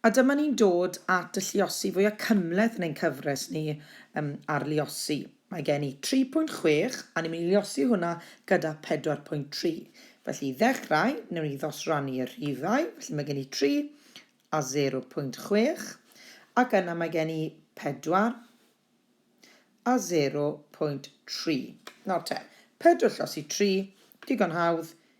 A dyma ni'n dod at y lluosi fwya cymhleth yn ein cyfres ni um, ar luosi. Mae gen i 3.6 a ni'n mynd i luosi hwnna gyda 4.3. Felly i ddechrau, newn ni ddosrannu'r rhifau. Felly mae gen i 3 a 0.6 ac yna mae gen i 4 a 0.3. Nawr te, 4 llosi 3, digon hawdd,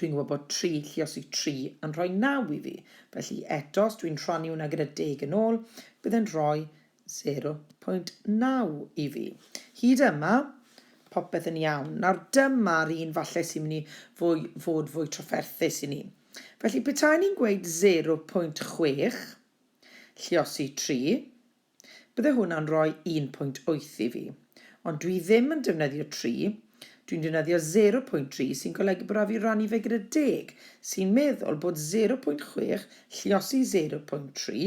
Dwi'n gwybod bod tri lluosig tri yn rhoi naw i fi, felly eto os dwi'n rhannu hwnna gyda deg yn ôl, bydd e'n rhoi 0.9 i fi. Hyd yma, popeth yn iawn. Nawr dyma'r un falle sy'n mynd i fwy, fod fwy trafferthus i ni. Felly petaen ni'n gweud 0.6 lluosi 3, Bydde hwnna'n rhoi un pwynt wyth i fi. Ond dwi ddim yn defnyddio tri, dwi'n defnyddio zero pwynt tri sy'n golygu bod rhaid fi rannu fe gyda deg, sy'n meddwl bod zero pwynt chwech lliosi zero pwynt tri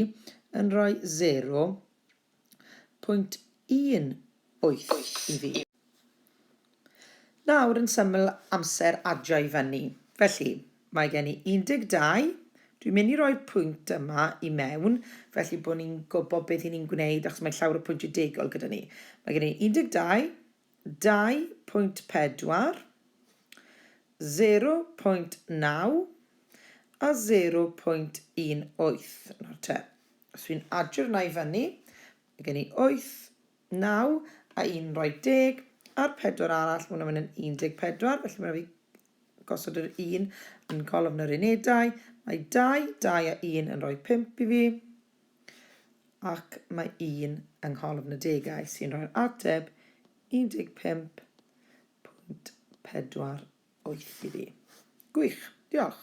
yn rhoi zero pwynt un wyth i fi. Nawr yn syml amser adio i fyny. Felly, mae gen i 12, dwi'n mynd i roi'r pwynt yma i mewn, felly bod ni'n gwybod beth i ni'n gwneud, achos mae llawr y pwyntiau degol gyda ni. Mae gen i 12, 2.4, 0.9 a 0.18. Nawr te, os dwi'n adio'r yna i fyny, mae gen i 8, Naw a un yn rhoi deg, a'r pedwar arall, mae hwnna'n mynd yn 14, felly mae'n rhaid fi gosod yr un yn golofn yr unedau. Mae dau, dau a un yn rhoi pump i fi, ac mae un yng ngholofn y degau sy'n rhoi'r ateb 15.48 i fi. Gwych, diolch.